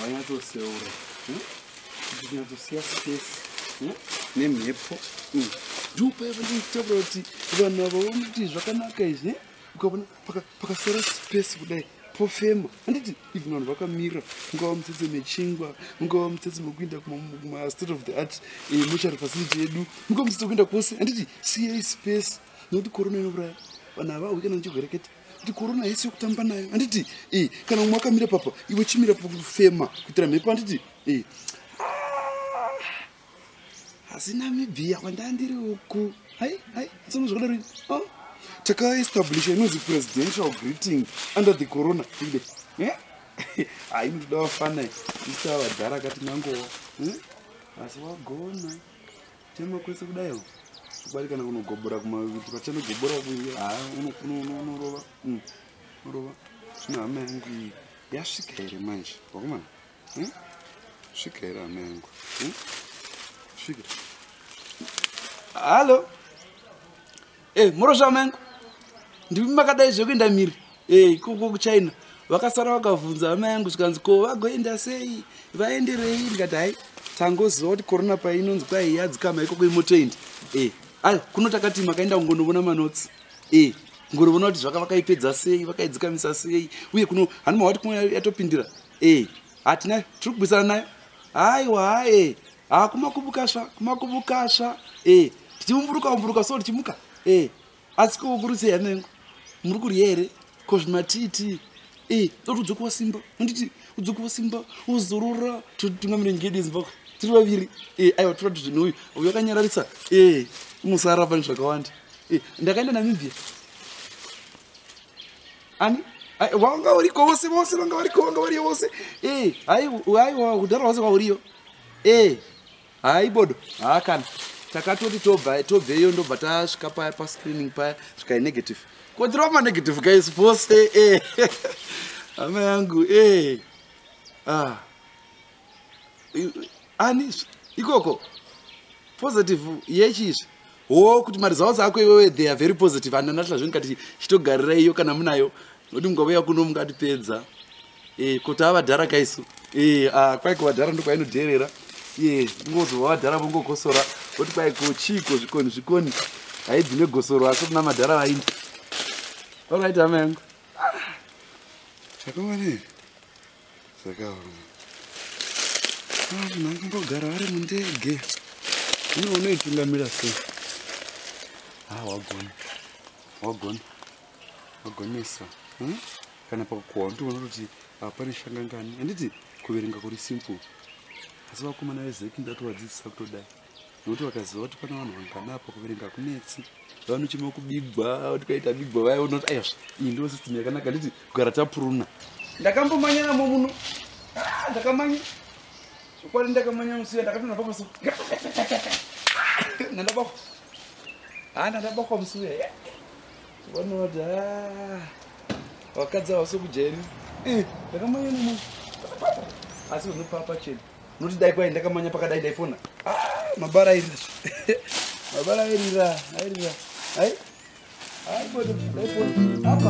wanyatsoseura ndinyatsosia space nemhepo ndopaiva ndichitaura kuti vanhu ava vanoti zvakanaka izvi ukavona pakasara space kudai pofema handiti even vanhu vakamira ungava mutsetse mechingwa ungava mutsetse mekuinda kumastate of the art eh, mochari facility yedu ungava mutsetse wekuinda kwose handiti siyei space nekuti korona inouraya vanhu havahwi kana nechirwere kete kuti korona haisi yokutamba nayo handiti e eh, kana umwe akamira papa iwe chimira pakufema kuitira mhepo handiti e eh, asi namibia kwandandiri uku hai hai sonozvakadaro oh, takaestablisha inonzi presidential greeting under the corona ide eh? hai ndida wafana isa vadhara akati nangowa eh? asi wagona chema kwese kudaiwo kubari kana kunogobora kumakuti pachanogobora kuye ha unorova mm, unorova zvino hama yangu iyi yasvika here manje wakomana Hmm? Svika here hama yangu? Hmm? Svika. Halo. Eh, morosva hama yangu. Ndimi makadai zvekuenda miri. Eh, ikoko kuChina. Vakasara vakavhunza hama yangu zvikanzi ko vagoenda sei? Vaenderei ndikati hai tangoziva kuti corona painonzi kwai yadzikama ikoko imotoenda. Eh, ayo kuno takati makaenda kungonovona manotsi. Eh, ngorovona kuti zvaka vakaipedza sei, vakaidzikamisa sei uye kuno hanima wati kuno yatopindira. e hatina tiri kubvisana nayo haiwa hae ha kumakubukasva kumakubukasva e tichiumburuka umburuka so tichimuka e asi kokurutsi yanengo muri kurya here ko zvimatiti e toti udzokuwa simba unditi udzokuwa simba uzorora totinga mirengedi zimbabwe tiri vaviri e aiwa tora tuzvinhu uyu uyu akanyararisa e musara pane zvakawanda e ndakaenda namibia ani wanga uriko vose vose vanga variko vanga variyo vose e aiwa kudhara vose vauriyo e haibodo haa kana takatoti tobva tobveyo ndobva tasvika paya pascreening paya svikai negative kotirova manegative guys vose e hama yangu e ah ani ikoko positive yechizvi wo kuti maresults ako iwewe they are very positive and anatla zve ndikati chitogarira iyo kana munayo noti mungauya kuno mungatipedza eh, kuti avadhara kaisu eh, ah, kwai kuvadhara ndokwainodherera eh, ndingozova vadhara vongokosora voti kwai kochiiko zvikoni zvikoni haidzi negosoro asi kuna madhara vaini orit hama yangu ah, zvakawanei zvakaoma vanhu vanombogara vari mundege ino unoitungamira sei ha ah, wagona wagona wagonesa hmm? kana pakukohwa unotoona kuti hapane shangangani handiti kuverenga kuri simple asi vakomana vezeki ndatovadzidzisa kutodai nokuti vakaziva kuti pana vanhu vangana apa kuverenga kunetsi vanochema kubigwa kuti kaita bigwa vaya unoti aya iyi ndo system yakanaka nditi kugara tapuruna ndakambomanyiramo muno ah, ndakamanya chokwadi ndakamanya musiya ndakatona papaso nandabakwa ha ah, nandabakwa musiya vanoti ah, vakadzi havasokujairi eh, ndakamanya nomuno asi vanopapa chena noti dai kwai ndakamanya pakadai ndaipona ah, mabara airira mabara airira airira ai aibota ndaipona apa